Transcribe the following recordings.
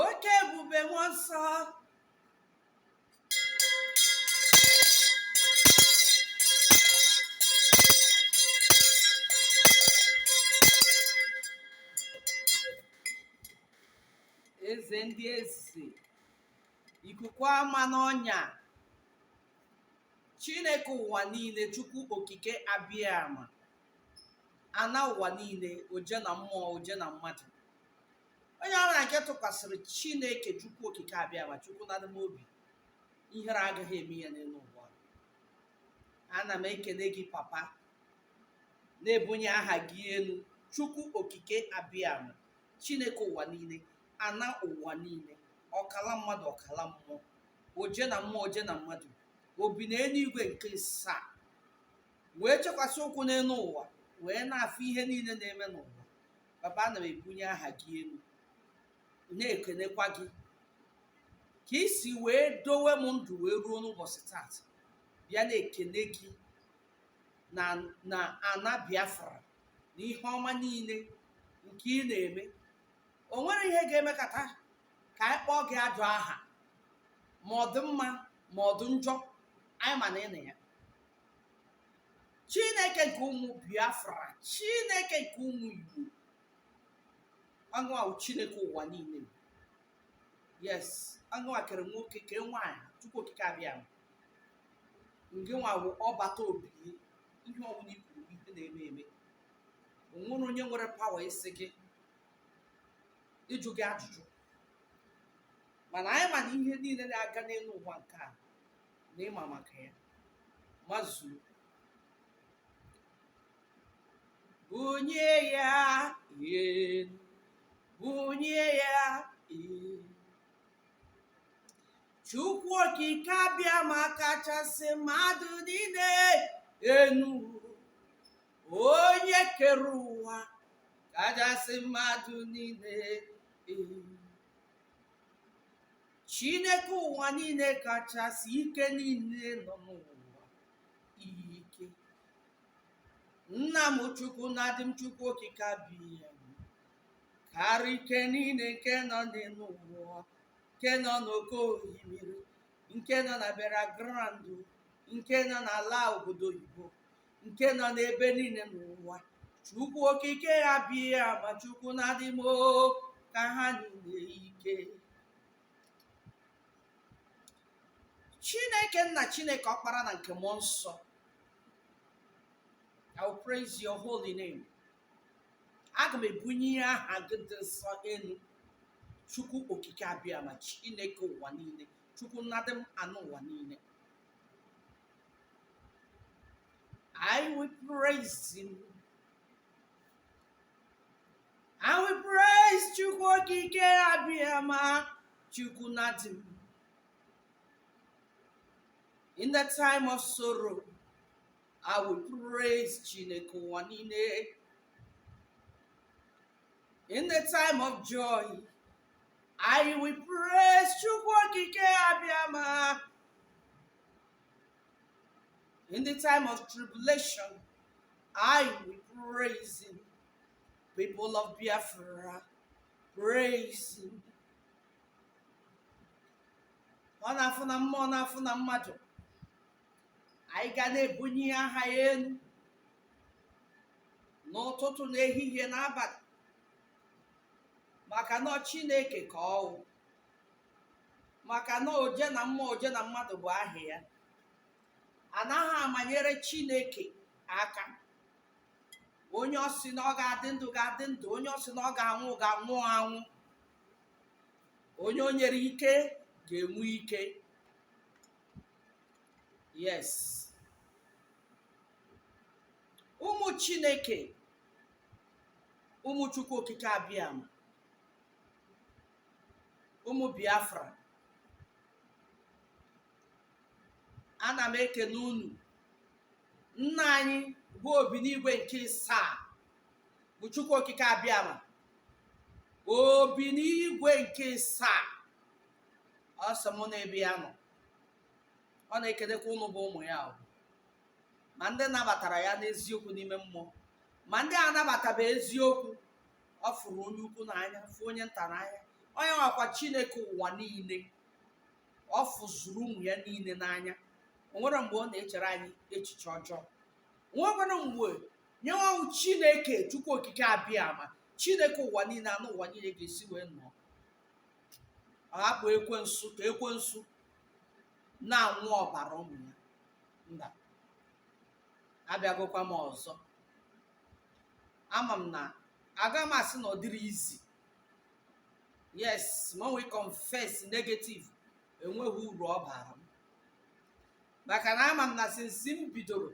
oke ebube mmụọ nsọ eze ndị eze ikuku ama n'ọnya chineke ụwa niile chukwu okike abiama ana ụwa niile oje na mmụọ oje na mmadụ onye ọbụla nke tụkwasịrị chineke chukwu okike abiama chukwu na-edu m obi ihere agaghị eme ya n'elu ụwa ana m ekele gị papa na-ebunye aha gị elu chukwu okike abiama chineke ụwa niile ana ụwa niile ọkala mmadụ ọkala mmụọ oje na mmụọ oje na mmadụ obi na eluigwe nke asaa wee chekwasị ụkwụ n'elu ụwa wee na-afụ ihe niile na-eme n'ụwa papa ana m ebunye aha gị elu na-ekenekwa gị ka i si wee dowe m ndụ wee ruo n'ụbọchị taata bịa na-ekene gị na ana biafra na ihe ọma niile nke ị na-eme o nwerọ ihe ga-emekata ka anyị kpọọ gị ajọ aha ma ọ dị mma ma ọ dị njọ anyị ma na ị na ya chineke nke ụmụ biafra chineke nke ụmụ igbo ọ ngị nwa wụ chineke ụwa niile yes ọ ngị nwa kere nwoke kee nwaanyị chukwu okike abiama ngị nwa bụ ọbata obie ihe ọbụla i kwuru bụ ihe na-eme eme o nwerọ onye nwere pawa ịsị gị ịjụ gị ajụjụ mana anyị ma na ihe niile na-aga n'elu ụwa nke a na ị ma maka ya mazuru bunye ya elu bunye ya elu chukwu okike abiama kachasị mmadụ niile enu onye kere ụwa kachasị mmadụ niile elu Chineke ụwa niile kachasị ike niile nọ n'ụwa ike nna m chukwu na-edu m chukwu okike abiama karịa ike niile nke nọ n'elu ụwa nke nọ n'oke osimiri nke nọ na burial ground nke nọ n'ala obodo oyibo nke nọ n'ebe niile n'ụwa chukwu okike abịama chukwu na-adị m ọ ka ha niile ike chineke nna chineke ọkpara na nke mmụọ nsọ I will praise your holy name. Aga m ebunye aha gị dị nsọ elu. Chukwu okike abịama Chineke ụwa niile. Chukwu na-adị m anụ ụwa niile. I will praise him. I will praise Chukwu okike abịama Chukwu na-adị m. In the time of sorrow, I will praise Chineke ụwa niile. In the time of joy, I will praise Chukwu okike abịama In the time of tribulation, I will praise him. People of Biafra, praise him. Ọ na-afụ na mmụọ na-afụ na mmadụ. Anyị ga na-ebunye aha ya elu n'ụtụtụ n'ehihie n'abalị maka na ọ Chineke ka ọ wụ. maka na oje na mmụọ oje na mmadụ bụ aha ya anaghị amanyere chineke aka onye ọ sị na ọ ga-adị ndụ ga-adị ndụ onye ọ sị na ọ ga-anwụ ga-anwụ anwụ onye o nyere ike ga-enwe ike yes ụmụ chineke ụmụ chukwu okike abịama ụmụ biafra ana m ekene unu nna anyị bụ obi n'igwe nke isaa bụ chukwu okike abịama obi n'igwe nke isaa ọ sị mụ na ebe ya nọ ọ na-ekenekwa unu bụ ụmụ ya o. ma ndị nabatara ya n'eziokwu n'ime mmụọ ma ndị anabatabe eziokwu ọ fụrụ onye ukwu n'anya fụ onye nta n'anya onye nwakwa chineke ụwa niile ọ fụzuru ụmụ ya niile n'anya o nwere mgbe ọ na-echere anyị echiche ọjọọ nwekwara mgbe onye nwa wụ chineke chukwu okike abịama chineke ụwa niile anụ ụwa niile ga-esi wee nọọ hapụ ekwensu ka ekwensu na-aṅụ ọbara ụmụ ya mba abịagokwa m ọzọ ama m na aga m asị na ọ dịrị easy yes ma nwee confess negative enweghị uru ọ bara m maka na ama m na since m bidoro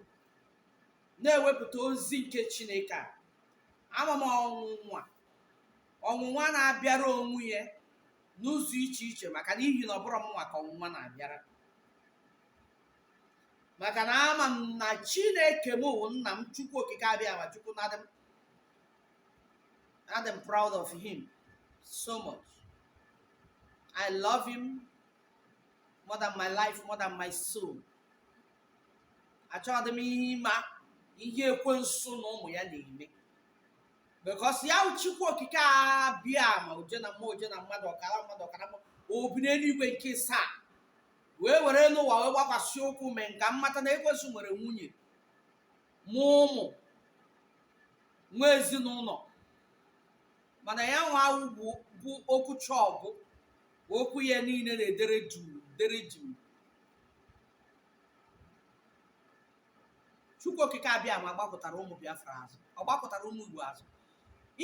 na-ewepụta ozi nke chineke a ama m ọnwụnwa ọnwụnwa na-abịara onwe ya n'ụzọ iche iche maka n'ihi na ọ bụrụ mụnwa ka ọnwụnwa na-abịara maka na ama m na chineke m wụ nna m chukwu okike abịama chukwu na adị m adị m proud of him so much i love him more than my life more than my soul achọghị m ịma ihe ekwensu na ụmụ ya na-eme because ya wụ chukwu okike abịama oje na mmụọ oje na mmadụ ọkara mmadụ ọkara mmụọ obi n'eluigwe nke asaa wee were elu ụwa wee gbakwasị ụkwụ mee m ka m mata na ekwensu nwere nwunye mụ ụmụ nwee ezinụlọ mana ya nwa wụ okwuchaa ọ gwụ o kwuo ihe niile na-edere juu dere juu chukwu okike abịama agbakụtara ụmụ biafra azụ ọ gbakụtara ụmụ igbo azụ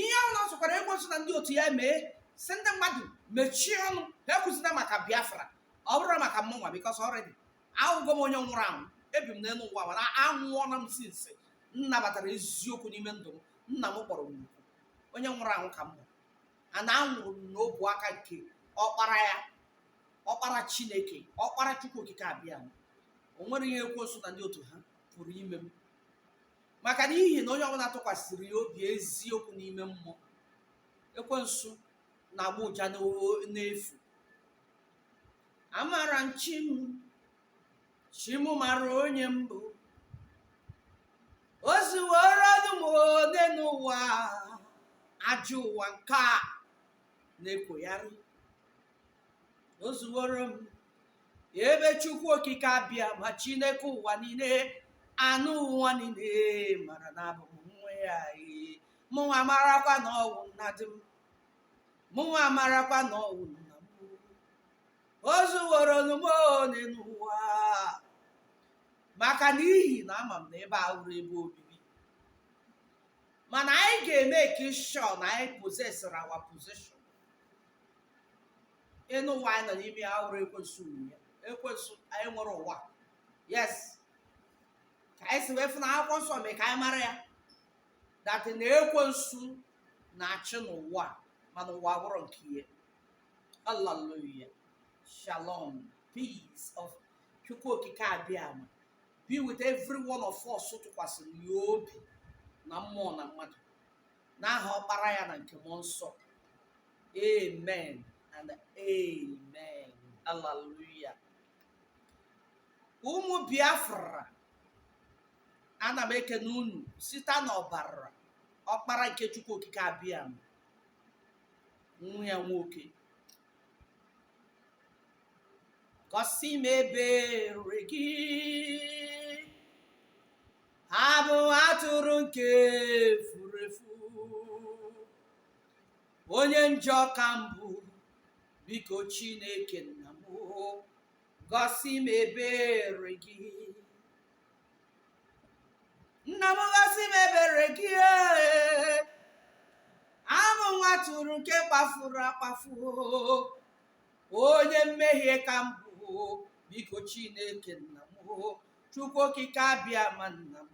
ihe ọ na-asọkwara ekwensu na ndị otu ya mee sị ndị mmadụ mechie ọnụ ha ekwuzina maka biafra ọ bụrụ maka mụnwa because already awụgo m onye nwụrụ anwụ ebi m n'elu ụwa mana anwụọla m since m nabatara eziokwu n'ime ndụ m nna m kpọrọ m oku onye nwụrụ anwụ ka m bụ a na anwụrụ m n'ọbụ aka nke ọkpara ya ọkpara chineke ọkpara chukwu okike abịama o nwere ihe ekwensu na ndị otu ha pụrụ ime m maka na ihi na onye ọbụla tụkwasịrị ya obi eziokwu n'ime mmụọ ekwensu na-agba ụja n'o- n'efu amara m chi m chi m mara onye m bụ o zuworo ọnụ m one n'ụwa ajọ ụwa nke a na-ekwoyarị o zuworo m ebe chukwu okike abịama chineke ụwa niile enu ụwa niile mara na abụ m nwa ya ee. mụnwa marakwa na ọ wụ nna di m mụnwa marakwa na ọ wụ nna o zuworo ọnụ m one n'ụwa maka n'ihi na ama m na ebe a wụrụ ebe obibi mana anyị ga-emake sure na anyị possessịrị our possession enu ụwa anyị nọ n'ime ya wụrụ ekwensu nwe ya ekwensu anyị nwere ụwa yes ka anyị si wee fụ na akwụkwọ nsọ mee ka anyị mara ya that na ekwensu na-achị n'ụwa mana ụwa wụrụ nke ya Hallelujah. Shalom. Peace of Chukwu Okike Abịama. Be with every one of us tụkwasịrị ya obi na mmụọ na mmadụ. N'aha ọkpara ya na nke mmụọ nsọ. Amen and amen. Hallelujah. Ụmụ Biafra, ana m ekene unu site n'ọbara ọkpara nke Chukwu Okike Abịama. nwa ya nwoke gosi m ebere gị abụ atụrụ nke furu efu onye njọ ka m bụ biko chineke nna m gosi m ebere gị nna m gosi m ebere gị ee. abụ m nwa atụrụ nke kpafuru akpafu onye mmehie ka m bụ biko chineke nna m chukwu okike abịama nna m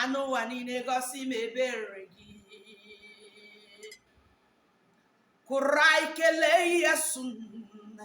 anụ ụwa niile gosi m ebere gị kụrụ anyị kelee ya sụnna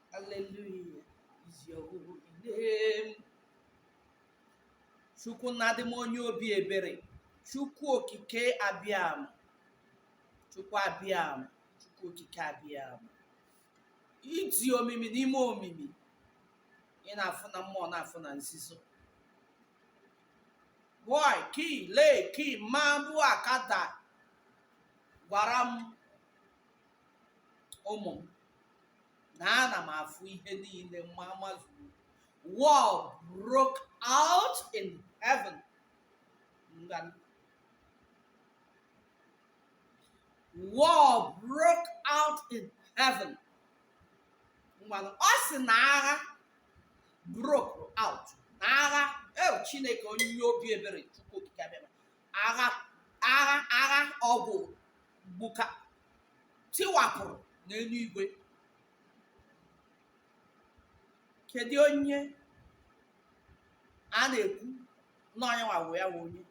Hallelujah is your holy name. Chukwu na-adị m onye obi ebere. Chukwu okike abịama. Chukwu abịama. Chukwu okike abịama. Ị dị omimi n'ime omimi. Ị na-afụ na mmụọ na-afụ na nzuzo. Boy, ki, le, ki, ma, bu, akada. Gwara m ụmụ m na ana m afụ ihe niile ma mazuru war broke out in heaven ngwanụ war broke out in heaven ngwanụ ọ sị na agha broke out na agha ee chineke onye obi ebere chukwu okike abịama agha agha agha ọgụ gbuka tiwapụrụ n'eluigwe kedu onye a na-ekwu na onye nwawo ya wụ onye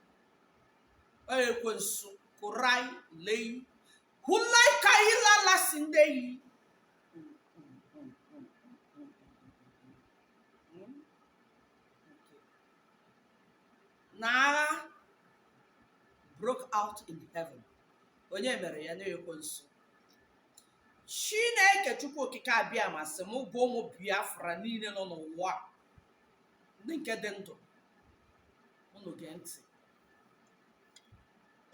onye ekwensu kụrai lei hulai ka ilala si ndị yi na agha broke out in heaven onye mere ya na ekwensu chineke chukwu okike abịama sị m gwa ụmụ biafra niile nọ n'ụwa a, ndị nke dị ndụ unu gee ntị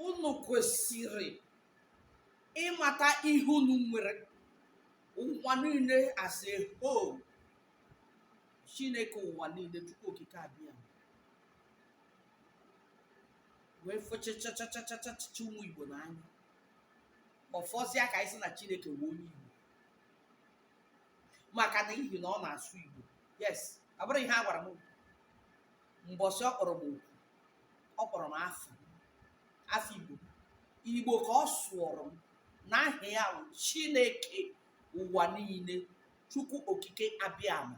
unu kwesịrị ịmata ihe unu nwere ụwa niile as a whole chineke ụwa niile chukwu okike abịa wee fụchachachachachacha ụmụ igbo n'anya ọ fọzịa ka anyị sị na chineke wụ onye igbo maka na ihi na ọ na-asụ igbo yes ọ bụrọ ihe a gwara m mbọsị ọ kpọrọ m oku ọ kpọrọ m afọ afọ igbo igbo ka ọ sụọrọ m na aha ya bụ chineke ụwa niile chukwu okike abịama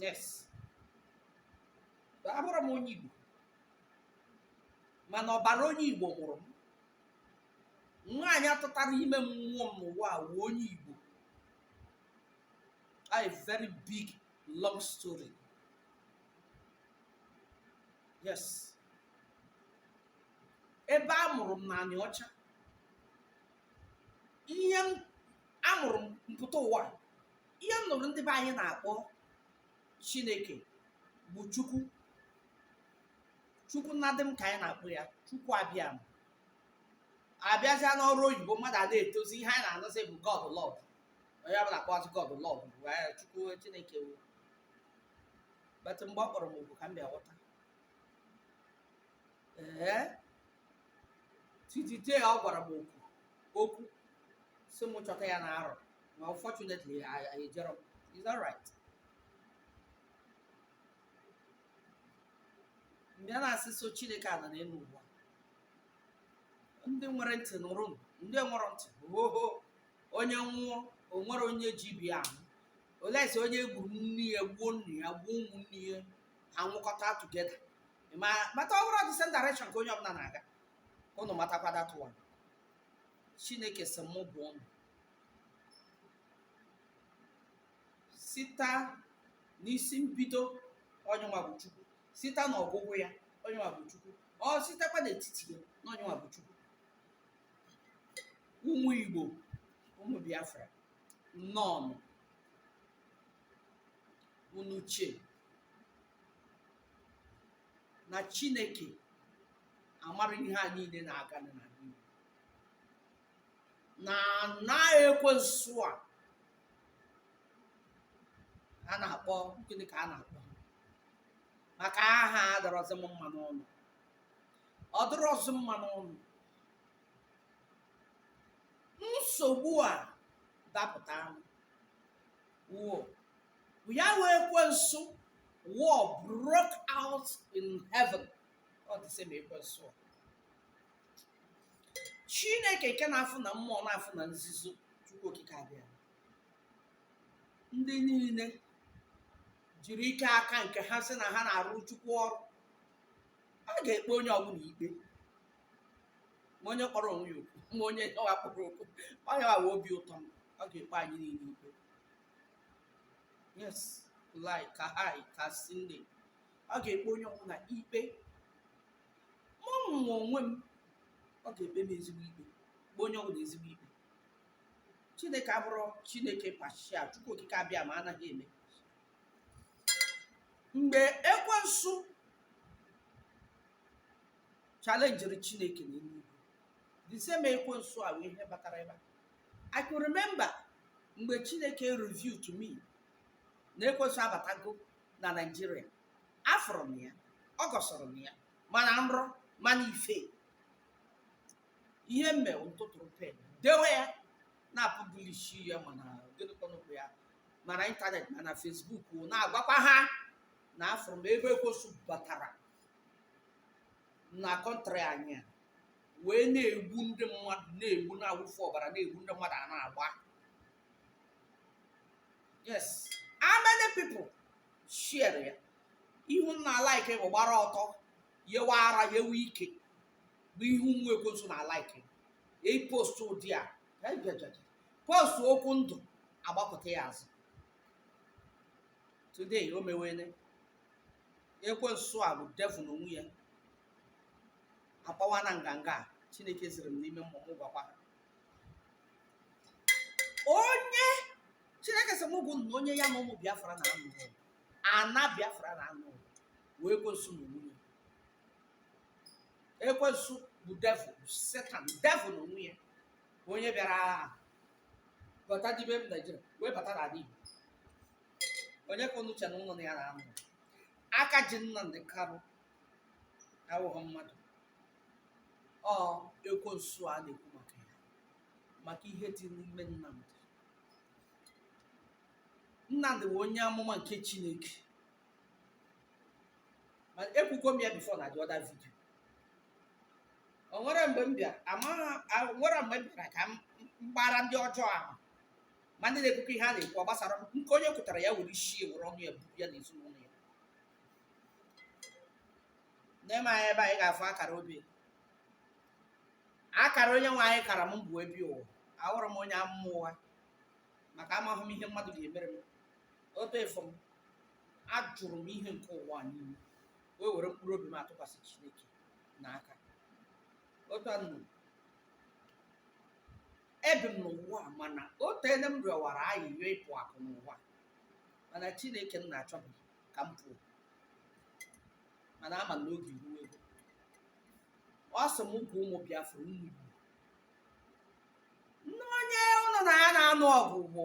yes abụrọ m onye igbo mana ọbara onye igbo mụrụ m nwaanyị a tụtara ime m mụọ m n'ụwa wụ onye igbo a very big long story yes ebe a mụrụ m na anịọcha ihe m a mụrụ m m pụta ụwa a, ihe m nụrụ ndị be anyị na-akpọ chineke bụ chukwu chukwu nnadị m ka anyị na-akpọ ya chukwu abịama a bịazịa n'ọrụ oyibo mmadụ a na-etozi ihe anyị na-anụzi bụ god lord onye ọbụla akpọzi god lord bụ eh, chukwu chineke wụ but mgbe ọ kpọrọ m oku ka m bịa ghọta ee titite ọ gwara m okwu okwu sị m chọta ya na arọ ma unfortunately I, I ejero m is that right mgbe a na-asị so chineke ala n'elu ụwa ndị nwere ntị nụrụ m ndị nwerọ ntị oho onye nwụọ o nwere onye ji bi ahụ olesi onye gburu nne ya gbuo nna ya gbuo ụmụnne ya a nwụkọta together ma mata ọ bụrọ the same direction ka onye ọbụla na-aga unu matakwa that one chineke sị m gwa unu site n'isi mbido onyenwa bụ chukwu site na ọgwụgwụ ya onyenwa bụ chukwu ọ sitekwa n'etiti ya na onyenwa bụ chukwu ụmụ igbo ụmụ biafra nnọọ unu che na chineke amara ihe a niile na-aga na n'ime na na ekwensu a a na-akpọ gịnị ka a na-akpọ maka aha adọrọzi m mma n'ọnụ ọ dọrọzi m mma n'ọnụ nsogbu a dapụta wụ ya wụ ekwensu war broke out in heaven ọ the same ekwensu a. chineke nke na-afụ na mmụọ na-afụ na nzuzo chukwu okike abịama ndị niile jiri ike aka nke ha sị na ha na-arụ chukwu ọrụ a ga-ekpe onye ọbụla ikpe ma onye kpọrọ onwe ya okwu ma onye ọha kpọrọ okwu onye ọha obi ụtọ m ọ ga-ekpe anyị niile ikpe yes lai ka hai ka sinde ọ ga-ekpe onye ọbụla ikpe mụ nwa onwe m ọ ga-ekpe m ezigbo ikpe kpe onye ọbụla ezigbo ikpe chineke abụrụ chineke partial chukwu okike abịama anaghị eme mgbe ekwensu challengiri chineke na eluigwe the same ekwensu a wụ ihe batara ebe a i can remember mgbe chineke reveal to me na ekwensu abatago na naijiria afụrụ m ya ọ gọsọrọ m ya ma na nrọ ma n'ife ihe m me wụ m tụtụrụ pen dewe ya na-apublish ya ma na gịnị ka a na-akpọ ya ma na internet ma na facebook na-agwakwa ha na afụrụ m ebe ekwensu batara na country anyị a wee na-egbu ndị mmadụ na-egbu na-awụfu ọbara na-egbu ndị mmadụ a na-agba yes how many people share ya ihe unu na-alike bụ gbara ọtọ yewe ara yewe ike bụ ihe ụmụ ekwensu na-alike e post ụdị a ejejeje post okwu ndụ a gbakụta ya azụ today o mewene ekwensu a bụ devil n'onwe ya akpawana nganga chineke ziri m n'ime mmụọ m gwakwa ha onye chineke sị m gwa unu na onye ya na ụmụ biafra na-anụ ọgụ ana biafra na-anụ ọgụ wụ ekwensu na onwe ya ekwensu bụ devil bụ satan devil na onwe ya onye bịara bata dibe m naijiria wee bata n'ala igbo onye ka unu chere unu na ya na-anụ aka ji Nnamdi Kanu awụghị mmadụ ọ ekwensu a na-ekwu maka ya maka ihe dị n'ime Nnamdi Nnamdi bụ onye amụma nke Chineke ma ekwugo m ya before na the other video o nwere mgbe m bịara nwere mgbe m bịara ka m gbara ndị ọjọọ ahụ ma ndị na-ekwukọ ihe a na-ekwu gbasara m nke onye kwutara ya were isi were ọnụ ya buru ya na ezinụlọ ya n'ime anyị ebe anyị ga-afụ akara obi akara onye nwe anyị kara m bụ ebi ụwa ahụrụ m onye amụma ụwa maka amaghị m ihe mmadụ ga-emere m otu efu m ajụrụ m ihe nke ụwa niile wee were mkpụrụ obi m atụkwasị chineke n'aka otu a nụ ebi m n'ụwa a mana o teene m rịọwara ayịyọ ịpụ apụ n'ụwa mana chineke nna achọbeghị ka m pụọ mana ama m na oge erugo ọ sị m gwa ụmụ biafra ụmụ igbo na onye unu na ya na-anụ ọgụ bụ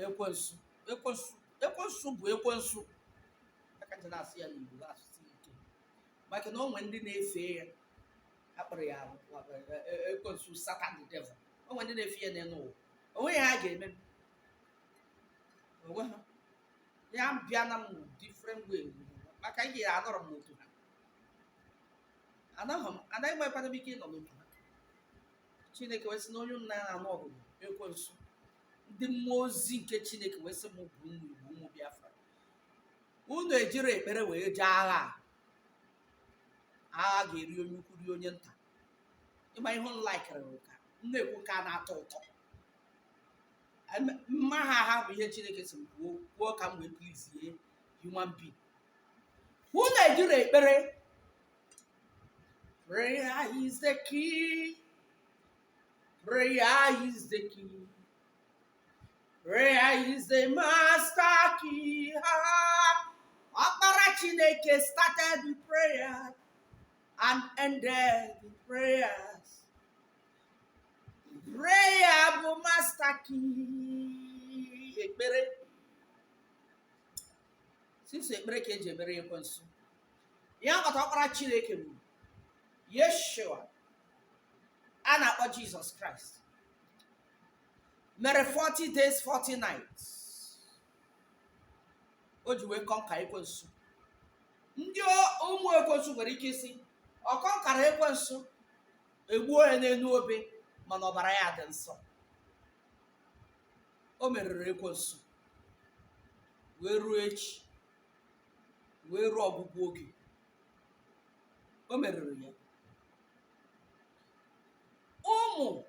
ekwensu ekwensu bụ ekwensu ka m ji na-asụ ya n'igbo asụsụ ike maka na o nwere ndị na-efe ya akpọrọ ya ekwensu satan the devil o nwere ndị na-efe ya n'elu ụwa onwe ya ha ga-eme m onwe ha ya bịa na m different way maka anyị ga anọrọ m n'otu ha anaghị m anaghị m ekwana m ike ịnọ n'otu ha chineke wee sị na onye m na ya na-anụ ọgụ bụ ekwensu ndị mmụọ ozi nke chineke wee sị m gwa unu bụ ụmụ biafra unu ejiri ekpere wee jee agha a a ga-eri onye ukwu rie onye nta ịma ihe unu likere ka m na-ekwu nke a na-atọ ụtọ Em- mma ha ha bụ ihe chineke sị m kwuo kwuo ka m wee please human being unu ejiri ekpere prayer is the key prayer is the key Prayer is the master key. Ọkpara Chineke started with prayer and ended with prayers. Prayer bụ master key ekpere. Sọsọ ekpere ka eji emeri ekwensu. Ya kpata ọkpara Chineke bụ Yeshua a na-akpọ Jesus Christ. mere 40 days 40 nights o ji wee kọnka ekwensu ndị o- ụmụ ekwensu nwere ike ịsị ọ kọnkara ekwensu egbuo ya n'elu obe mana ọbara ya dị nsọ o meriri ekwensu wee ruo echi wee ruo ọgwụgwụ oge o meriri ya ụmụ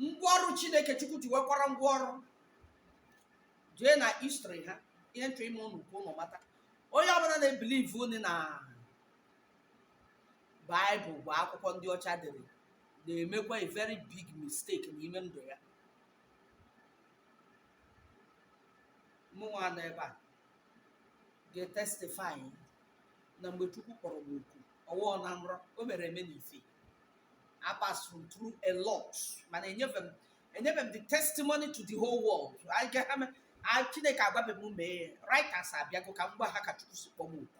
ngwa ọrụ chineke chukwu ji wekwara ngwa ọrụ jee na history ha ihe m chọ ime ụnụ ka ụnụ mata onye ọbụla na-ebilivunye na baịbụl bụ akwụkwọ ndị ọcha dere na-emekwa a very big mistake n'ime ndụ ya mụnwa nọ ebe a ga-etestifai na mgbe chukwu kpọrọ m oku ọ wụọ na nrọ o mere eme n'ife apasuru m through a lot mana enyebe m enyebe m the testimony to the whole world chineke agwabe m mee right hours abịago ka m gwa ha ka chukwu si kpọọ m oku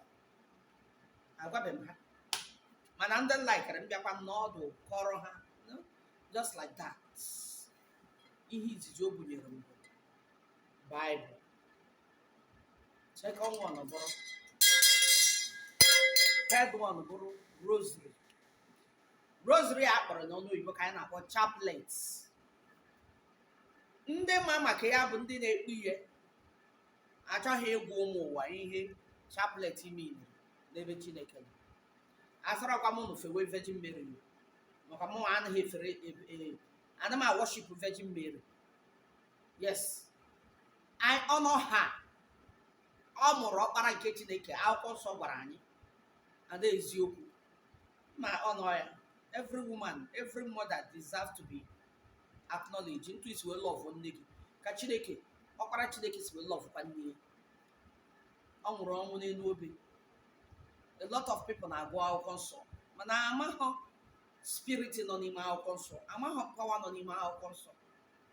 agwabe m ha mana ndị laikere m bịakwa m nọdụ kọọrọ ha just like that ihe izizi o bunyere m bụ baịbụl second one bụrụ third one bụrụ rosary rosary a kpọrọ n'ọnụ oyibo ka anyị na-akpọ chaplet ndị ma maka ya bụ ndị na-ekpe ihe achọghị ịgwa ụmụ ụwa ihe chaplet miiniri n'ebe chineke nọ asịrọkwa m unu fewe virgin mary maka mụ anaghị efere e, e, ana m awọship virgin mary yes I honour her ọ mụrụ ọkpara nke chineke akwụkwọ nsọ gwara anyị ada eziokwu ma honour ya every woman every mother deserve to be acknowledged otu i si wee lọvụ nne gị ka chineke ọkpara chineke si wee lọvụkwa nne ya ọ nwụrụ ọnwụ n'elu obe a lot of people na-agụ akwụkwọ nsọ mana amaghọ spirit nọ n'ime akwụkwọ nsọ amaghọ power nọ n'ime akwụkwọ nsọ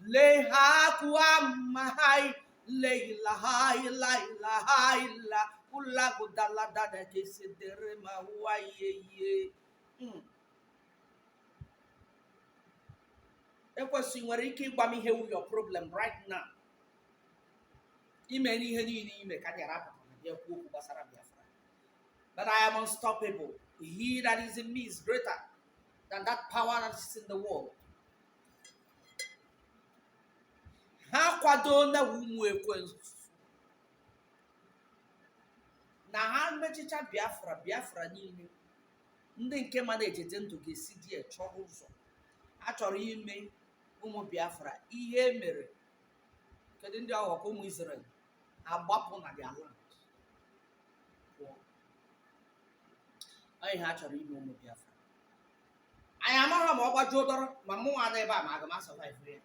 lehakuamahai leilahailailahila ulagudaladadakesitere ma ụwa yeye ekwensu i nwere ike ịgwa m ihe wụ your problem right now i mee ihe niile i mee ka m ghara apụta na bịa kwuo okwu gbasara Biafra but I am unstoppable he that is in me is greater than that power that is in the world ha kwado na ụmụ ekwensu na ha mechicha biafra biafra niile ndị nke ma na-ejete ndụ ga-esi there chọrọ ụzọ a chọrọ ime ụmụ biafra ihe e mere kedu ndị ọghọ ka ụmụ Israel agbapụ na their land pụọ Ọ ihe a chọrọ ime ụmụ biafra anyị amaghị ma ọ gbajuo dọrọ ma mụnwa nọ ebe a ma aga m asọvaịvụ ya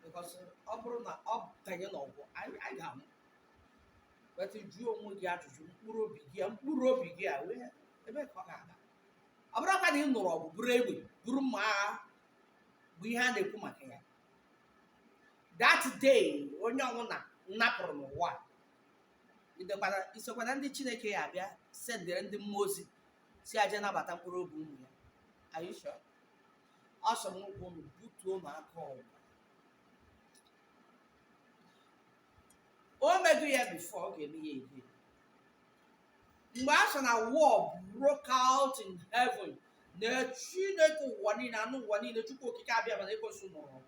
bikọs ọ bụrụ na ọ banye n'ọgụ anyị anyị ga-anwụ wetụ jụọ onwe gị ajụjụ mkpụrụ obi gị a mkpụrụ obi gị a wee ebee ka ọ ga-aga ọ bụrụkwa na ị nụrụ ọgụ buru egbe buru mma agha bụ ihe a na-ekwu maka ya that day onye ọbụla napụrụ n'ụwa a, idekwana- isokwana ndị chineke ya abịa sendere ndị mmụọ ozi sị ha je nabata mkpụrụ obi ụmụ ya Are you sure? ọ sọ m ụkwụ unu butuo m aka ọgụ o mego ya bifo ọ ga-eme ya ebe mgbe a sị na war broke out in heaven na chineke ụwa niile enu ụwa niile chukwu okike abịama na ekwensu nụrụ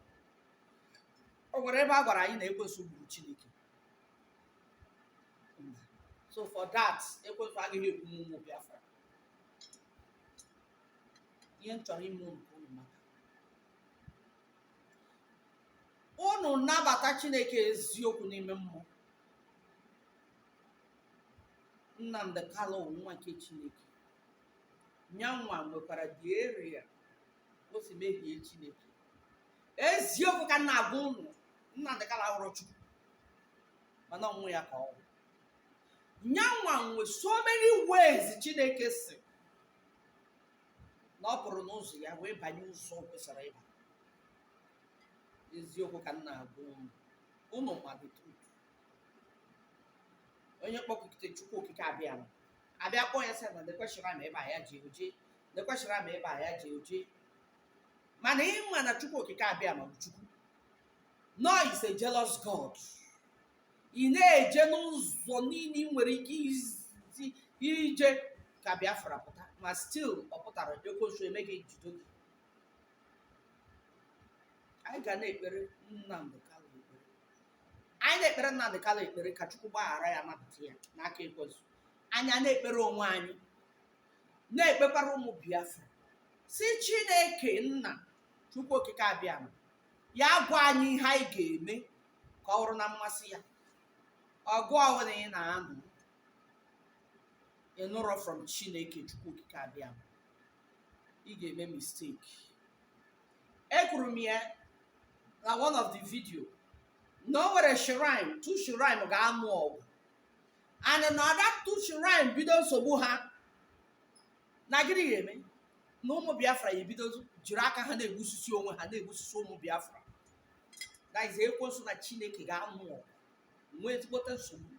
o nwere ebe a gwara anyị na ekwensu gburu chineke so for that ekwensu agaghị egbu ụmụ biafra ihe m chọrọ ime unu ka unu mata unu nabata chineke eziokwu n'ime mmụọ nnamdị kanu nwa nke chineke nyanwa nwekwara the area o si mehie chineke eziokwu ka m na-agwa unu Nnamdi Kanu awụrọ Chukwu mana ọ nwa ya ka ọ wụ nyanwa nwe so many ways Chineke si na ọ pụrụ n'ụzọ ya wee banye ụzọ o kwesịrọ ịba eziokwu ka m na-agwa unu unu ma the truth onye kpọkụte Chukwu okike abịama. abịa kpọọ ya sị na e kwesịrị ama ebe a ya ji oje e kwesịrị ama ebe a ya ji oje mana ịma na chukwu okike abịama chukwu nọ is a jealous god ị na-eje n'ụzọ niile ị nwere ike isi je ka biafra pụta ma stil ọ pụtara ekwensu eme gị jido gị anyị ga na-ekpere nnamdị kanu ekpere anyị na-ekpere nnamdị kanu ekpere ka chukwu gbaghara ya napụta ya n'aka ekwensu anyị ana-ekpere onwe anyị na-ekpekwara ụmụ biafra sị chineke nna chukwu okike abịama ya gwa anyị ihe anyị ga-eme ka ọ bụrụ na mmasị ya ọgụ ọbụla ị na-anụ ị nụrọ from chineke chukwu okike abịama ị ga-eme mistake ekwuru m ya na one of the video na o nwere shrine two shrine ga-anụ ọgụ and na that two shrine bido nsogbu ha na gịnị ga-eme na ụmụ biafra ya ebido jiri aka ha na-egbusisi onwe ha na-egbusisi ụmụ biafra that is ekwensu na chineke ga-anụ ọgụ nwee ezigbote nsogbu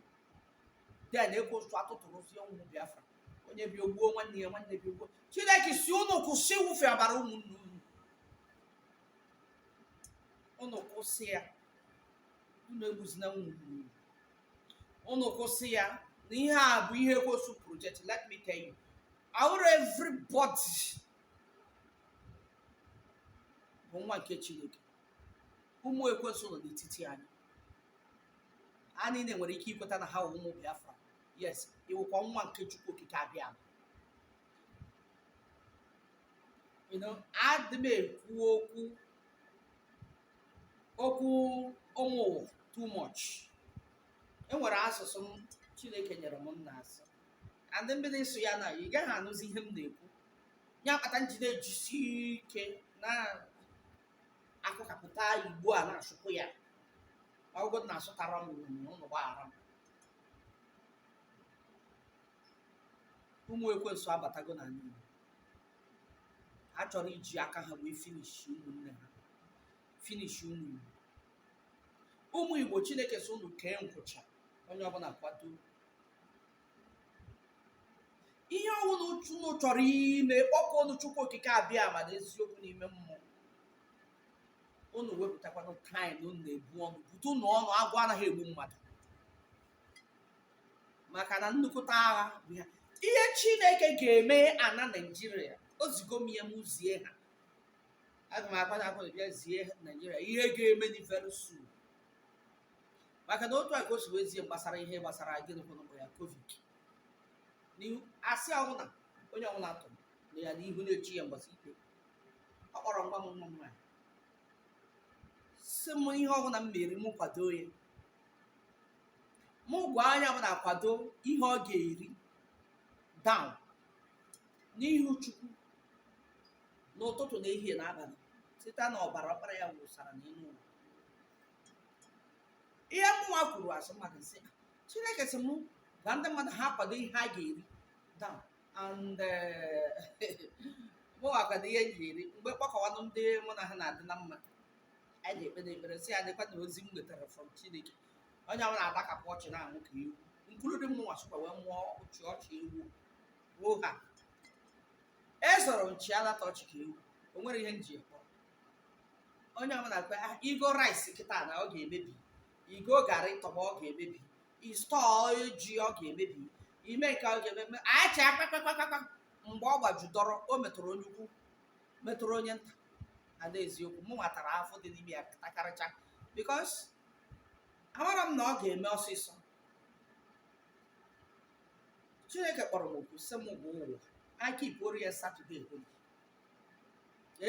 then ekwensu atụtụrụzie ụmụ biafra onye bi o gbuo nwanne ya nwanne bi o gbuo chineke sị unu kwụsị ịwụfe ọbara ụmụnne unu unu kwụsị ya unu egbuzina ụmụnne unu unu kwụsị ya na ihe a bụ ihe ekwensu project let me tell you ọ wụrọ everybody bụ nwa nke chineke ụmụ ekwensu nọ n'etiti anyị ha niile nwere ike ikweta na ha wụ ụmụ biafra yes ị wụkwa nwa nke chukwu okike abịama you know adị m ekwu okwu okwu ụmụ too much enwere asụsụ m chineke nyere m na-asụ and m bido ịsụ ya na ị gaghị anụzi ihe m na-ekwu ya kpata m ji na-ejisi ike na-akụkapụta igbo a na-asụpụ ya ọ wụgodu na asụtara m unu gbaghara m ụmụ ekwensu abatago n'ala igbo ha chọrọ iji aka ha wee finish ụmụnne ha finish ụmụ igbo ụmụ igbo chineke sị unu kee nkwụcha onye ọbụla kwado ihe ọwụna unu chọrọ ime kpọkuonu chukwu okike abịama na eziokwu n'ime mmụọ unu wepụtakwanụ time unu na-ebu ọnụ bute unu ọnụ agụụ anaghị egbu mmadụ maka na nnukwute agha bụ ya ihe chineke ga-eme ana naijiria o zigo m ya m zie ha aga m akwadokwa bịa zie naijiria ihe ga-emenụ very soon maka na otu a ka o si wee zie gbasara ihe gbasara gịnịkwanụ bụ ya covid n'ihu asị ọwụna onye ọwụna tụrụ na ya n'ihu na-eche ya mgbasa ikpe ọ kpọrọ m gwa m nwa m nwaanyị sị m ihe ọbụla m mere m kwado ya mụ gwa onye ọbụna kwado ihe ọ ga-eri down n'ihu chukwu n'ụtụtụ na ehihie na abalị site na ọbara ọkpara ya wụsara n'elu ụwa ihe mụnwa kwuru asị mmadụ nsị chineke sị mụ gwa ndị mmadụ ha kwado ihe ha ga-eri down and mụnwa kwado ihe m ga-eri mgbe kpọkọwanụ ndị mụ na ha na-adị na mma anyị na-ekpenụ ekpere sị ya dịkwa na ozi m nwetara from chineke onye ọbụna adakapụ ọchị na-amụ ka ewu nkuru dị mụnwa sokwa wee mụọ ọchị ọchị ewu ruo ha ezoro nchi alata ọchị ka ewu o nwere ihe nji ekpọ onye ọbụna kwa "Ah, igo rice kịta na ọ ga-emebi igo garị tọgbọ ọ ga-emebi istọọ ji ọ ga-emebi ime nke ọ ga-emebi a chịa kpakpakpakpakpa mgbe ọ gbajudọrọ o metụrụ onye ukwu metụrụ onye nta and eziokwu mụnwa tara afụfụ dị n'ime ya takarịcha bikos amara m na ọ ga-eme ọsịsọ chineke kpọrọ m oku sị m gwa ụwa ha kipuoro ya satọde holi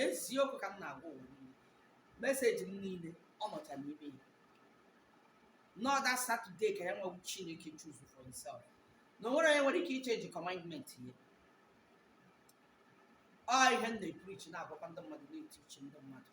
eziokwu ka m na-agwa ụwa niile meseji m niile ọ nọcha n'ime ya na ọ dat satọde ka yanwa wụ chineke chuzu for himself na onwere onye nwere ike ichenji kọmandment ya ọ ihe m na-eprichi na-agwakwa ndị mmadụ na-etichi ndị mmadụ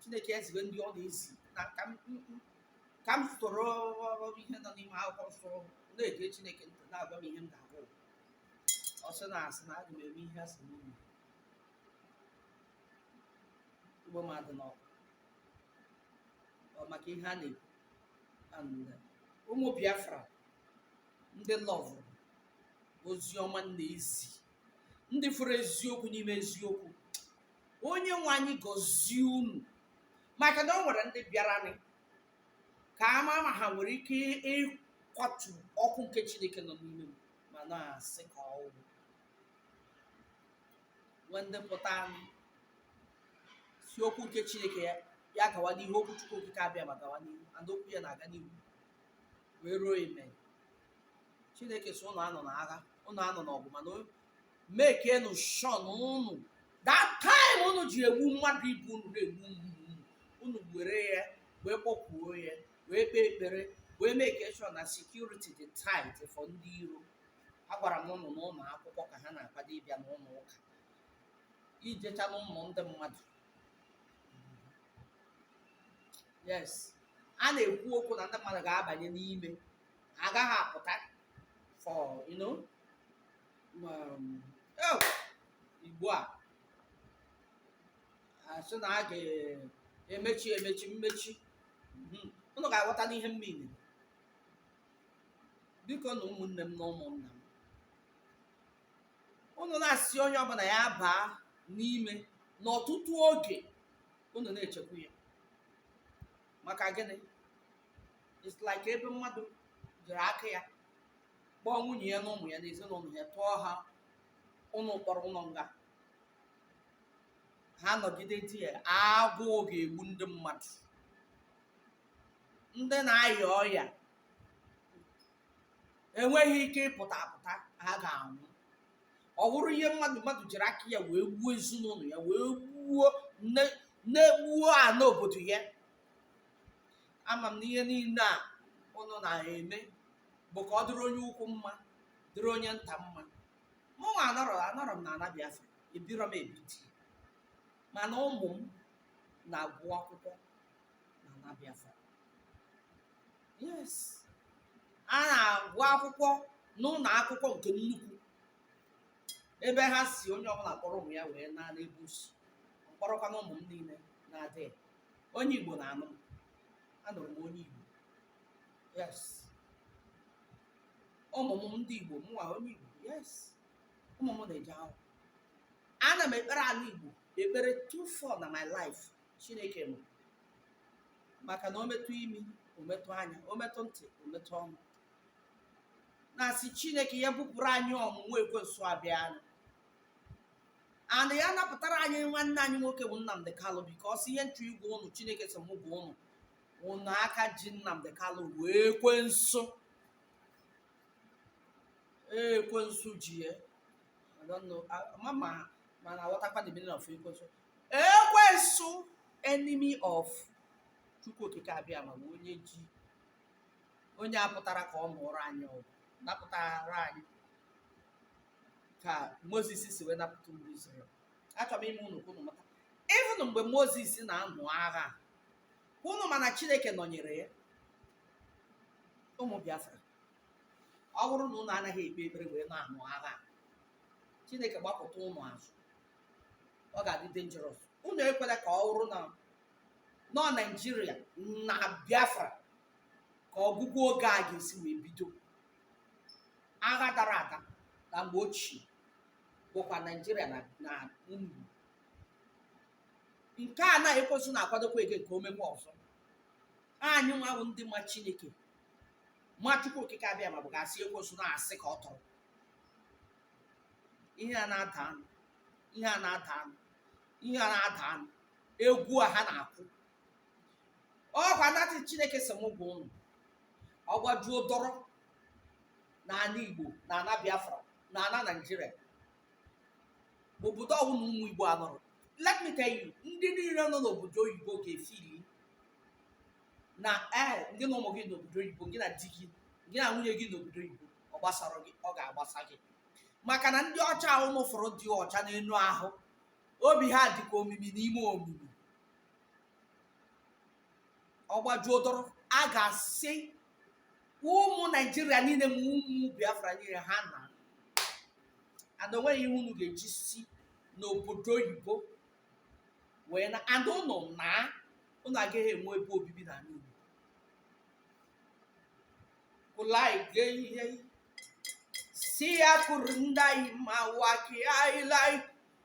chineke eziwe ndị ọ na-ezi na ka m m- m- ka m soro ihe nọ n'ime akwụkwọ nsọ na-ege chineke ntị na-agwa m ihe m ga-agwa ụwa. ọ sị na asị na aga m eme ihe asị m unu igbo m adị n'ọkụ Ọ maka ihe a na-ekwu And, uh, ụmụ biafra ndị lọvụ ozi ọma m na-ezi ndị fụrụ eziokwu n'ime eziokwu onye nwe anyị gọzie unu maka na o nwere ndị bịaranị ka a ma ma ha nwere ike ịkwatu ọkụ nke chineke nọ n'ime m mana asị ka ọ wụ nwee ndị pụtanị sị okwu nke chineke ya ya gawa n'ihu okwu chukwu okike abiama gawa n'ihu and okwu ya na-aga n'ihu wee ruo ime chineke so ụnụ anọ na agha ụnụ anọ na ọgụ mana mekienụ shọ na unu that time unu ji egbu mmadụ ibe unu na-egbu mgbu unu were ya wee kpọkwuo ya wee kpee ekpere wee make sure na security dị tight for ndị iro agwara m ụnụ n'ụlọ akwụkwọ ka ha na-akwado ịbịa n'ụlọ ụka ijecha n'ụlọ ndị mmadụ yes a na-ekwu okwu na ndị mmadụ ga-abanye n'ime agaghị apụta for you know ugbu a a sị na a ga-emechi emechi mmechi mhm. ụnụ ga-aghọta n'ihe mmiri bikonụ ụmụnne m na ụmụnna m ụnụ na-asị onye ọbụla ya baa n'ime n'ọtụtụ oge ụnụ na-echekwa ya maka gịnị it's like ebe mmadụ jiri aka ya kpọọ nwunye ya na ụmụ ya na ezinụlọ ya tụọ ha ụlọ mkpọrọ ụlọ nga ha nọgide there agụụ ga-egbu ndị mmadụ ndị na-aya ọya enweghị ike ịpụta apụta ha ga-anwụ ọ bụrụ ihe mmadụ mmadụ jiri aka ya wee gbuo ezinụlọ ya wee gbuo wee gbuo ana obodo ya ama m na ihe niile a ụnụ na-eme bụ ka ọ dịrị onye ukwu mma dịrị onye nta mma mụnwa anọrọ anọrọ m na ana biafra ebirọ m ebiti mana ụmụ m na-agụ akwụkwọ na ana biafra yes ha na-agụ akwụkwọ n'ụlọ akwụkwọ nke nnukwu ebe ha sị onye ọbụla kpọrọ ụmụ ya wee naa n'ebe o si m kpọrọkwanụ ụmụ m niile na-adị onye igbo na-anụ m anụrụ m onye igbo yes ụmụ m ndị igbo mụnwa onye igbo yes ụmụ m na-eje ahụ ana m ekpere ana igbo ekpere two four na my life chineke m maka na o metụ imi o metụ anya o metụ ntị o metụ ọnụ na-asị chineke ya bupụrụ anyị ọnwụnwa ekwensu abịa anyị and ya napụtara anyị nwanne anyị nwoke bụ Nnamdi Kalụ because ihe m chọ ịgwa ụnụ chineke sị mụ gwa ụnụ ụnụ aka ji Nnamdi Kanu bụ ekwensu ekwensu ji ya ma ma ma na-aghọtakwa the meaning of ekwensu ekwensu enemy of Chukwu Okike Abiama bụ onye ji onye a pụtara ka ọ nụọrọ anyị ọgụ napụtara anyị ka moses si wee napụta ụmụ Izrel achọrọ m ime unu ka unu mata even mgbe moses na-anụ agha ụnụ ma na chineke nọnyere ya ụmụ biafra ọ bụrụ na ụnụ anaghị ekpe ekpere wee na-anụ agha a, chineke gbapụta ụnụ azụ ọ ga-adị dangerous ụnụ ekwela ka ọ bụrụ na nọ naijiria na biafra ka ọgwụgwụ oge a ga-esi wee bido agha dara ada na mgbe ochie bụkwa naijiria na na unu nke a na ekwensu na-akwadokwa ege nke o mekwa ọzọ anyị nwa wụ ndị ma chineke ma chukwu okike abịama bụ ga-asị ekwensu na asị ka ọ tụrụ ihe a na-ada anụ ihe a na-ada anụ ihe a na-ada anụ egwu a ha na-akụ ọkwa natị chineke sị m gwa ụnụ ọ gbajuo dọrọ n'ana igbo na ana biafra na ana naijiria obodo ọwụna ụmụ igbo anọrọ let me tell you ndị niile nọ n'obodo oyibo ga-efili na ee gị na ụmụ gị n'obodo oyibo gị na di gị gị na nwunye gị n'obodo oyibo ọ gbasara gị ọ ga-agbasa gị maka na ndị ọcha ahụ ụnụ fụrụ dị ọcha n'elu ahụ obi ha dị ka omimi n'ime omimi ọ gbajuo dọrọ a ga-asị ụmụ naijiria niile ma ụmụ biafra niile ha naa and o nweghị ihe unu ga-eji si n'obodo oyibo wee na and ụnụ na ụnụ agaghị enwe ebe obibi na Igbo kụlai gee ihe si ya kwụrụ ndị anyị ma waki anyị lai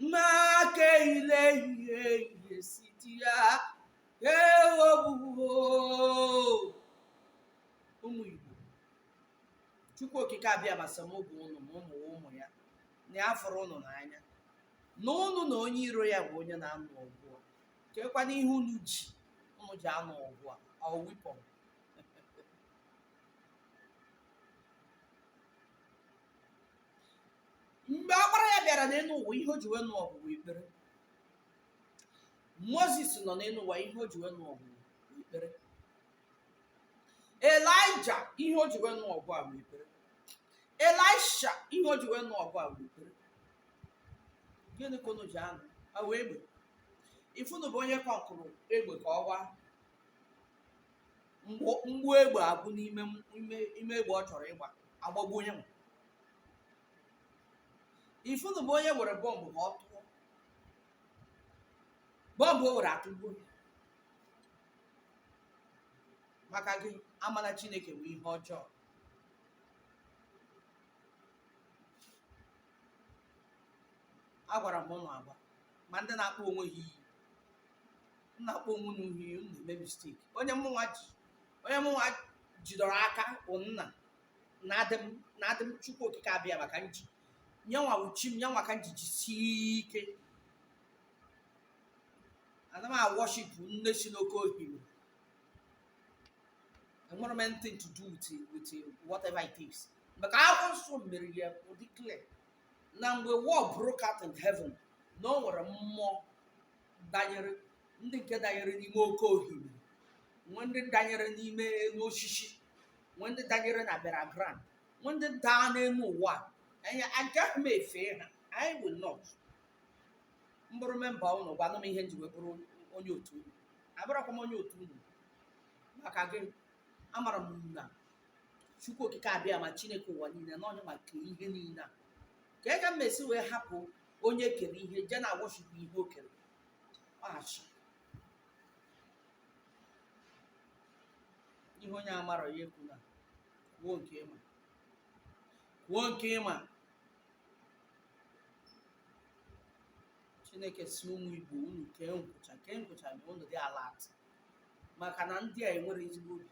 mmake ile ihe ihe siti ya ewobuo ụmụ igbo chukwu okike abịama sị m gwa ụnụ na ụnụ wụ ụmụ ya na ya fụrụ ụnụ n'anya na ụnụ na onye iro ya bụ onye na-anụ ọgụ a kekwanụ ihe unu ji unu ji anụ ọgụ a ọ weapon mgbe ọkpara ya bịara n'elu ụwa ihe o ji wee nụ ọgụ bụ ekpere moses nọ n'elu ụwa ihe o ji wee nụ ọgụ bụ ekpere elija ihe o ji wee nụ ọgụ a bụ ekpere elisha ihe o ji wee nụ ọgụ a bụ ekpere gịnị ka unu ji anụ ọ wụ egbe if unu bụ onye kọkụrụ egbe ka ọ gbaa mgbọ egbe agwụ n'ime egbe ọ chọrọ ịgba agbagbuo onye nwe if unu bụ onye were bọmbụ ka ọ tụọ bọmbụ o were atụgbuo ya maka gị ama na chineke bụ ihe ọjọọ agwara m ụnụ agwa ma ndị na-akpọ onwe ha iyi na-akpọ onwe unu iyi unu na-eme mistake onye mụnwa ji onye mụnwa jidọrọ aka bụ nna na-adị m na-adị m chukwu okike abịama ka m ji nyanwa wụ chi m nyanwa ka m ji jisie ike ana m awọship nne si n'oke ohimiri enwerọ m anything to do with with whatever it is maka akwụkwọ nsọ mere ya ọ dị clear na mgbe war broke out in heaven na o nwere mmụọ danyere ndị nke danyere n'ime oke ohimiri nwe ndị danyere n'ime elu osisi nwe ndị danyere na burial ground nwe ndị daa n'elu ụwa agaghị m efe ha i will not m bụrụ member unu gwanụ m ihe m ji wee bụrụ onye otu unu abụrụkwa m onye otu unu maka gịnị amara m na chukwu okike abịama chineke ụwa niile na onye make ihe niile a ka ega m esi wee hapụ onye kere ihe je na awọshipụ ihe o kere ọhachi ihe onye amarọ ya ekwuna kwuo nke ị ma kwuo nke ị ma chineke sị ụmụ igbo unu kee nkwụcha kee nkwụcha na unu dị alert maka na ndị a enwerọ ezigbo obi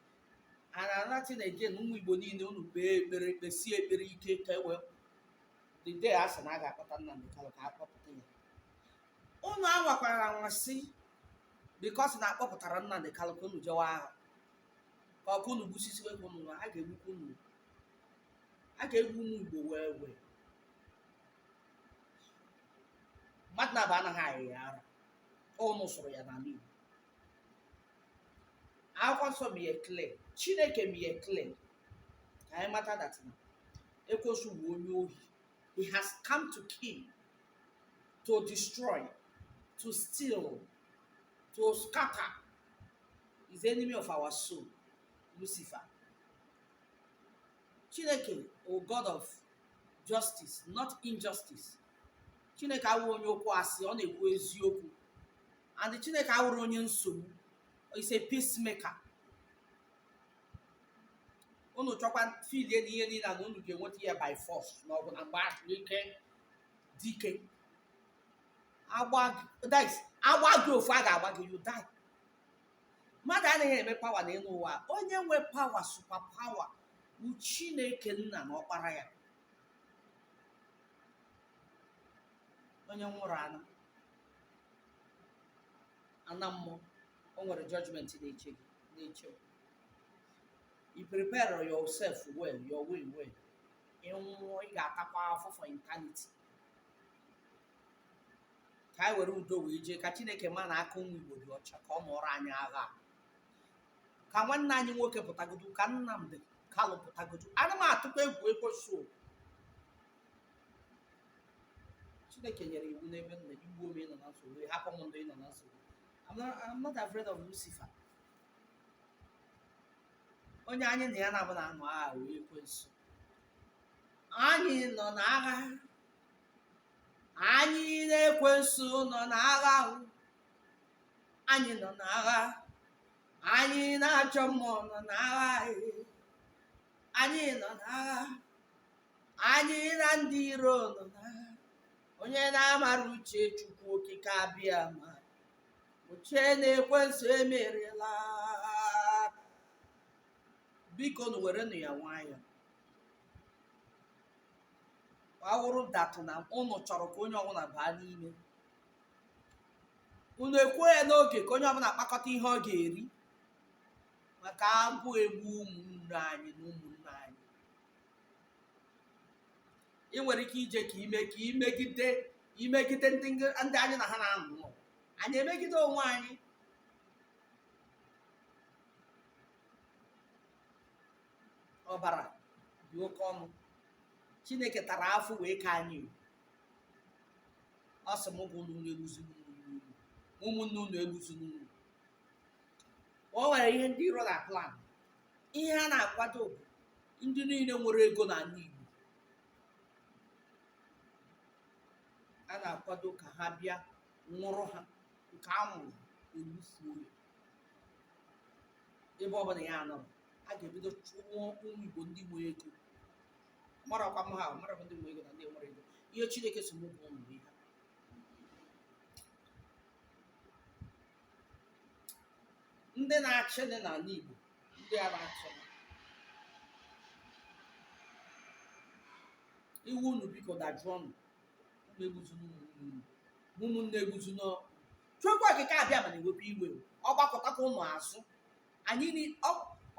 a na-anati na eje na ụmụ igbo niile unu kpee ekpere kpesie ekpere ike ka e wee the day a sị na a ga-akpọta Nnamdi Kanu ka a kpọpụta ya unu anwakwara anwa sị because na a kpọpụtara Nnamdi Kanu ka unu jewa agha ka ọkụ unu gbusisiwe ka unu nwa a ga-egbukwa unu a ga-egbu ụmụ igbo wee wee mmadụ na-aba anaghị ayị ya ara unu sụrụ ya n'ala Igbo akwụkwọ nsọ mee ya clear chineke mee ya clear ka anyị mata that na ekwensu bụ onye ohi he has come to kill to destroy to steal to scatter he's the enemy of our soul lucifer chineke wụ god of justice not injustice chineke awụrụ onye okwu asị ọ na-ekwu eziokwu and chineke awụrụ onye nsogbu he's a peacemaker unu chọkwa filie na ihe niile na unu ga-enweta ya by force ma ọ bụ na mgbe ahụ ike dike a gbaa gị ofu a ga-agba gị you die mmadụ anaghị enwe power n'elu ụwa onye nwe power super power bụ chineke nna na ọkpara ya onye nwụrụ anwụ ana mmụọ o nwere judgment na-eche gị na-eche gị. i prepare yourself well your way well ị nwụọ ị ga-atakwa afọ for eternity ka anyị were udo wee jee ka chineke ma na aka ụmụ igbo dị ọcha ka ọ nụọrọ anyị agha a. ka nwanne anyị nwoke pụtagodu ka nnamdị kanụ pụtagodu ana m atụkwa egwu ekwensu Chineke nyere iwu n'ebe m nọ ị gbuo m ị nọ na nsogbu ị hapụ m ndụ ị nọ na nsogbu I'm not, I'm not afraid of Lucifer onye anyị na ya na-abụ na-anụ agha bụ ekwensu anyị nọ na agha anyị na ekwensu nọ na agha ahụ anyị nọ na agha anyị na ajọ mmụọ nọ na agha anyị anyị nọ n'agha anyị na ndị iro nọ n'agha onye na-amara uche chukwu okike abịama o chee na ekwensu emeriela biko nu werenụ ya nwayọọ ọ wụrụ datụ na unu chọrọ ka onye ọbụla baa n'ime unu ekwuo ya n'oge ka onye ọbụla kpakọta ihe ọ ga-eri maka agụụ egbu ụmụnne anyị na ụmụnna anyị ị nwere ike ije ka ime ka imegide imegide ndị ndị anyị na ha na-alụ ọgụ anyị emegide onwe anyị ọbara dị oke ọnụ chineke tara afụfụ wee kee anyị ọ sị m gwa unu egbuzina ụmụnne unu egbuzina unu o nwere ihe ndị iro na-plan ihe a na-akwado bụ ndị niile nwere ego n'ala Igbo a na-akwado ka ha bịa nwụrụ ha nke a nwụrụ egbufuo ya ebe ọ bụla ya anọrọ a ga-ebido chụwa ụmụ Igbo ndị nwere ego marakwa m ha ahụ, mara m ndị nwere ego na ndị nwere ego ihe Chineke sị m gwa unu ihe ndị na-achị ndị n'ala Igbo ndị a na-achị iwe unu biko dajụọ unu egbuzina ụmụnne egbuzina Chukwu okike abịama na-ewe iwe ọ gbakụtakwa unu azụ anyị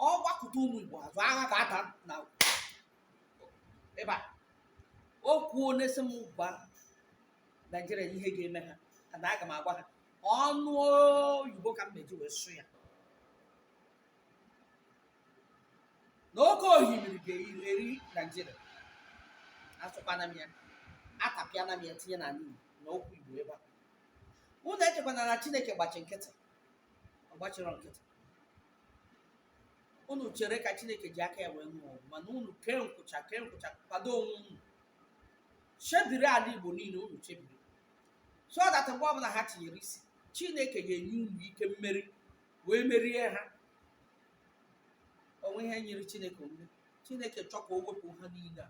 ọ gbakụta ụmụ Igbo azụ agha abata ebe a o kwuo na ọ sị m gwa Naijiria ihe ga-eme ha na aga m agwa ha ọnụ oyibo ka m ma-eji wee sụ ya na oke ohimiri ga-eri naijiria asụkwana m ya atapịana m ya tinye na na okwu igbo ebe a unu echekwana na chineke gbachi nkịtị ọ gbachirọ nkịtị unu chere ka chineke ji aka ya wee nụọ ọgụ mana unu kee nkwụcha kee nkwụcha kwado onwe unu chebiri ala igbo niile unu chebiri so that mgbe ọbụla ha tinyere isi chineke ga-enye unu ike mmeri wee merie ha o nwe ihe nyịrị chineke omume chineke chọọ ka o wepụ ha niile a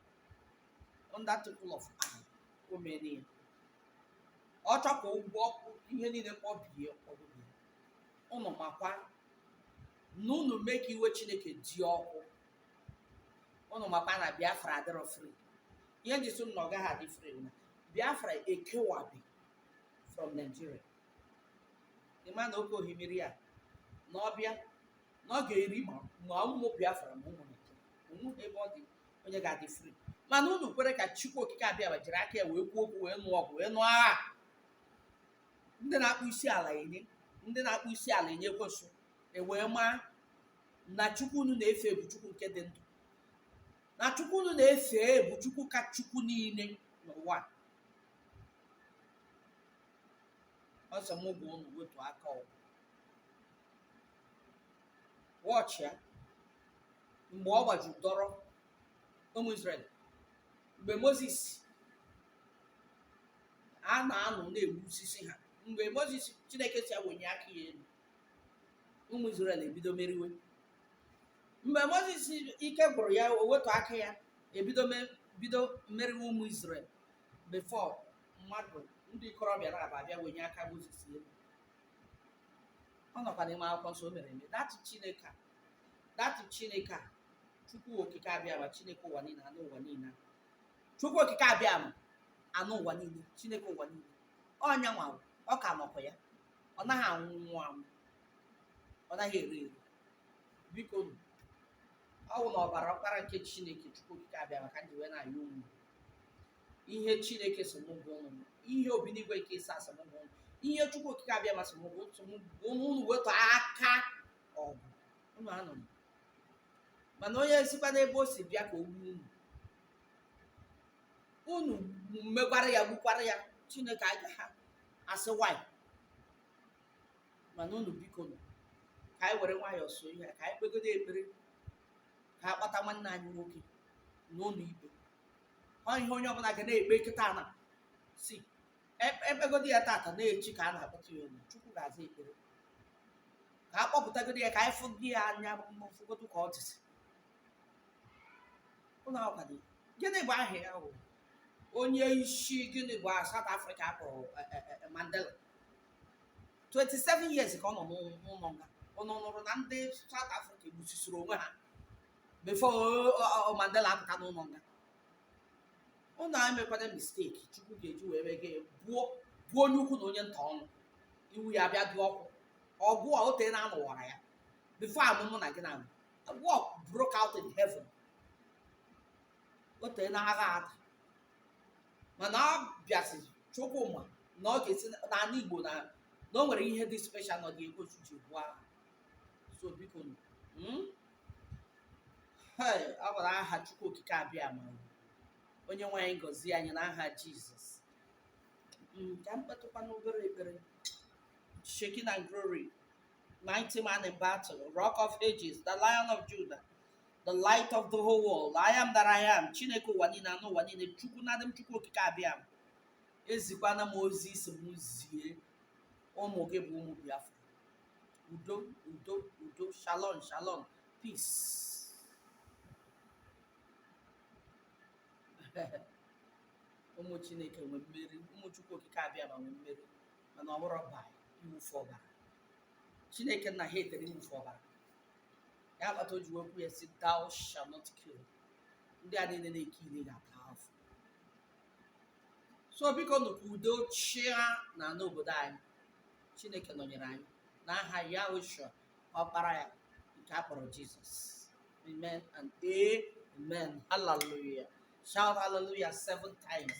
under twinkle of eye o mere ya ọ chọọ ka ụgwọ ọkụ ihe niile kpọbie ọgụgụ unu makwa na unu mee ka iwe chineke dị ọkụ unu makwa na biafra adịrọ free ihe m ji sị na ọ gaghị adị free na biafra ekewabi from nigeria ị ma na oke ohimiri a na ọ bịa na ọ ga-eri ma ma ụmụ biafra ma ụmụ naijiria o nweghị ebe ọ dị onye ga-adị free mana unu kwere ka chukwu okike abiama jiri aka ya wee kwuo okwu wee nụọ ọgụ wee nụọ agha ndị na-akpọ isi ala enye ndị na-akpọ isi ala enye ekwensu ewee maa na chukwu unu na-efe bụ chukwu nke dị ndụ na chukwu unu na-efe bụ chukwu ka chukwu niile n'ụwa a. ọ sị mụ gwa unu wetu aka ọgụ watch ya mgbe ọ gbaju dọrọ ụmụ Israel mgbe Mozis a na-anọ na-egbu osisi ha mgbe Mozis Chineke sị ya wenye aka ya elu ụmụ Izrel ebido meriwe mgbe moses ike gwụrụ ya o wetu aka ya e bido me- bido meriwe ụmụ Izrel before mmadụ ndị ikorobịa naabọ abịa wenye aka moses elu ọ nọkwa n'ime akwụkwọ nsọ o mere eme that chineke a that chineke a chukwu okike abiama chineke ụwa niile a n'ụwa niile a. chukwu okike abiama n'ụwa niile chineke ụwa niile ọ nya nwa ọ ka nọkwa ya ọ naghị anwụ anwụ ọ naghị ere ere biko nụ, ọ bụ na ọbara ọkpara nke chineke chukwu okike abiama ka m ji wee na-ayọ unu ihe chineke sị mụ gwa unu ihe obinigwe nke Izrel sị mụ gwa unu ihe chukwu okike abiama sị mụ gwa unu unu unu wetu aka ọgụ unu na-anụ. mana onye sikwa n'ebe o si bịa ka o gbuo unu unu mekwara ya gbukwara ya chineke agaghị asị why mana unu biko nụ ka anyị were nwayọọ so ihe a, ka anyị kpegodo ekpere ka a kpata nwanne anyị nwoke n'ụlọ ikpe ọ ihe onye ọbụla ga na-ekpe kịta na si e- ekpegodi ya tata na echi ka a na-akpọta ya olu chukwu ga-aza ekpere ka a kpọpụtagodi ya ka anyị fụgodi ya anya ma fụgodu ka ọ dịzi ụlọ akwụkwọ dị gịnị bụ aha ya wụ onye isi gịnị bụ aha South Africa kpọrọ eh, eh, eh, Mandela 27 years ka ọ nọ n'ụ- n'ụlọ nga unu nụrụ na ndị South Africa gbusisiri onwe ha before ọ- ọ- ọ Mandela apụta n'ụlọ nga unu emekwana mistake chukwu ga-eji wee mee gị gbuo gbuo onye ukwu na onye nta ọnụ iwe ya bịa dị ọkụ ọgụ a o teena a nụwara ya before a mụọ mụ na gị na A war broke out in heaven. O teena agha ada. Mana ọ bịazi Chukwu ma na ọ ga-esi n'ala Igbo na na o nwere ihe dị special na ọ ga-egosi ji buo agha. So biko nụ, mm? Hey, ọ gwara aha Chukwu Okike Abiama onye nwe anyị gọzie anyị n'aha Jizọs. Mm, Ka m kpetụkwanụ obere ekpere. Shekinah glory. mighty man in battle, rock of ages, the lion of Judah, the light of the whole world, I am that I am, Chineke ụwa niile anụ ụwa niile, Chukwu na adịm Chukwu okike Abiama. Ezikwana m ozi ị sị m zie ụmụ gị bụ ụmụ Biafra. Udo, udo, udo, shalom, shalom, peace. ụmụ Chineke nwe mmeri, ụmụ Chukwu okike Abiama nwe mmeri. mana ọ bụrọ by iwufu ọbara chineke nna hatere iwufu ọbara ya kpata o ji wee kwuo ya sị thou shall not kill ndị a niile na-ekill ga-ata afụfụ so biko nụ ka udo chịa na n'obodo anyị chineke nọnyere anyị na aha yahoshua ọkpara ya nke a kpọrọ jizọs amen and amen hallelujah shout hallelujah seven times